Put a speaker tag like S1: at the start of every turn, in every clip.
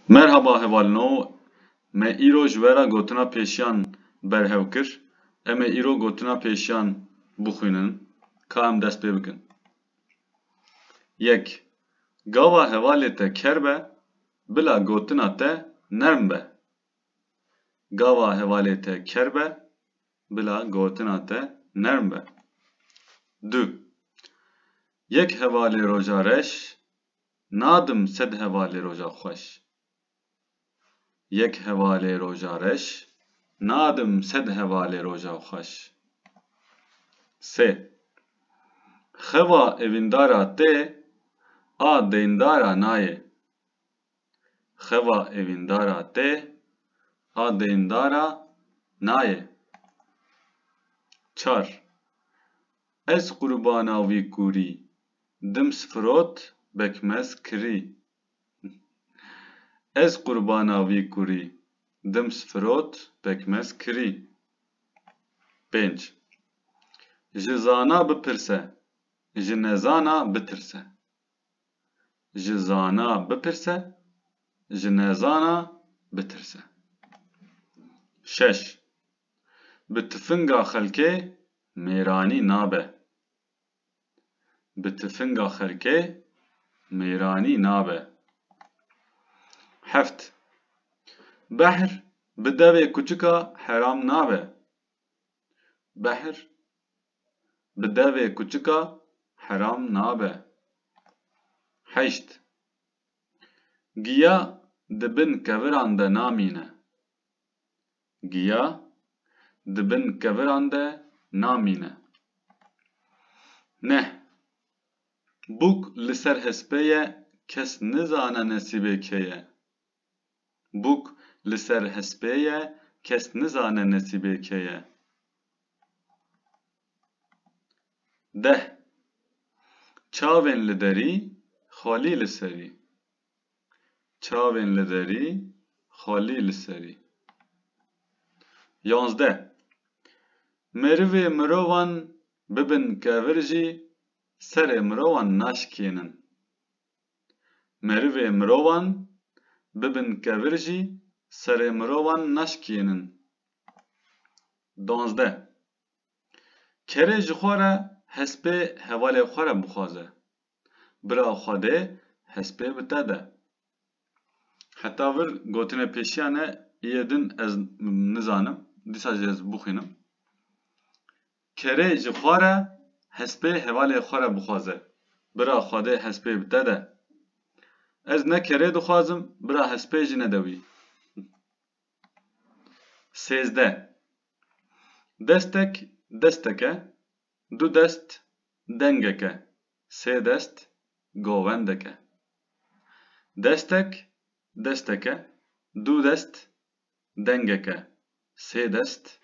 S1: Merhaba hevalino, me îro ji we re gotina pêşiyan berhev kir. Em ê îro gotina pêşiyan bixwînin. Ka em dest pê bikin. Yek, Gava hevalê te ker be, bila gotina te nerm be. Gava hevalê te ker be, bila gotina te nerm be. Du, Yek hevalê roja reş Nadim sed hevalê roja xweş. Yek hevalê roja reş. Nadim sed hevalê roja xweş. Sê. Xewa evîndara te a deyndara nayê. Xewa evîndara te a deyndara nayê. Çar. Ez qurbana wî kûrî. Dim sifrot bekmez kirî. Ez qurbana vî kurî. Dim sifrot bekmez kirî. Pênc. Ji zana bipirse, ji nezana bitirse. Ji zana bipirse, ji nezana bitirse. Şeş. Bi tifinga xelkê mêranî nabe. bi tifinga xelkê mêranî nabe. Heft, Behr bi devê kuçika heram nabe. Behr bi devê kuçika heram nabe. Heşt, Giya di bin keviran de namîne. Giya di bin keviran de namîne. Neh, bûk li ser hespê ye kes nizane nesîbê kê ye. Bûk li ser hespê ye kes nizane nesîbê kê ye. Deh, çavên li derî, xalî li serî. Çavên li derî, xalî li serî. Yazdeh. Merivê mirovan bibin kevir jî serê mirovan naşikênin. Merivê mirovan bibin kevir jî serê mirovan naşikênin. Duwazdeh. Kerê ji xwe re hespê hevalê xwe re bixwaze. Bira Xwedê hespê bi te de. Heta vir gotine pêşiya ne yê din ez nizanim, dîsa jî ez bixwînim. Kerê ji xwe re hespê hevalê xwe re bixwaze. Bira Xwedê hespê bi te de. Ez ne kerê dixwazim, bira hespê jî ne de wî. Sêzdeh. Destek desteke, Du dest dengek e, sê dest govendek e. Destek destek e, du dest dengek e, sê dest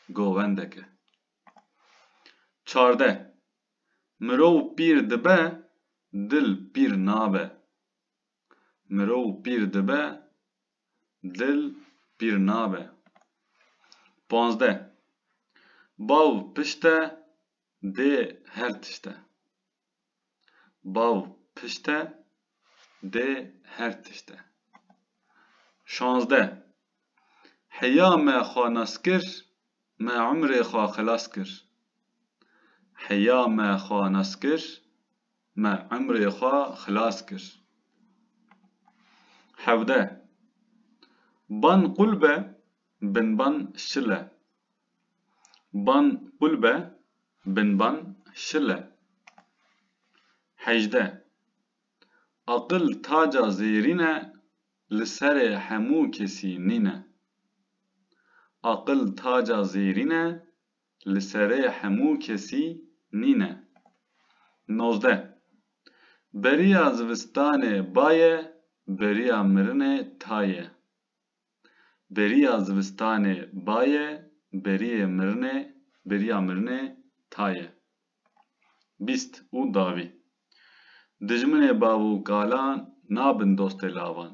S1: govendek e. Çardeh. Mirov pîr dibe, dil pîr nabe. Mirov pîr dibe, dil pîr nabe. Pazdeh, Bav pişte dê her tişte. Bav pişte dê her tişte. Şazdeh, Heya me xwe nas kir, me umrê xwe xilas kir. Heya me xwe nas kir, Me emrê xwe xilas kir. Hevdeh. Ban qul be, binban şil e. Ban qul be, binban şil e. Hejdeh. Aqil taca zêrîn e, li serê hemû kesî nîn e. Aqil taca zêrîn e, li serê hemû kesî nîne. Nozdeh. Beriya zivistanê baye, beriya mirinê taye. Beriya zivistanê baye, beriyê mirinê, beriya mirinê taye. Bîst û dawî. Dijminê bav û kalan nabin dostê lavan.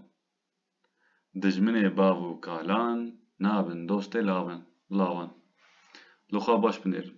S1: Dijminê bav û kalan nabin dostê lavan. Li xwe baş binêrin.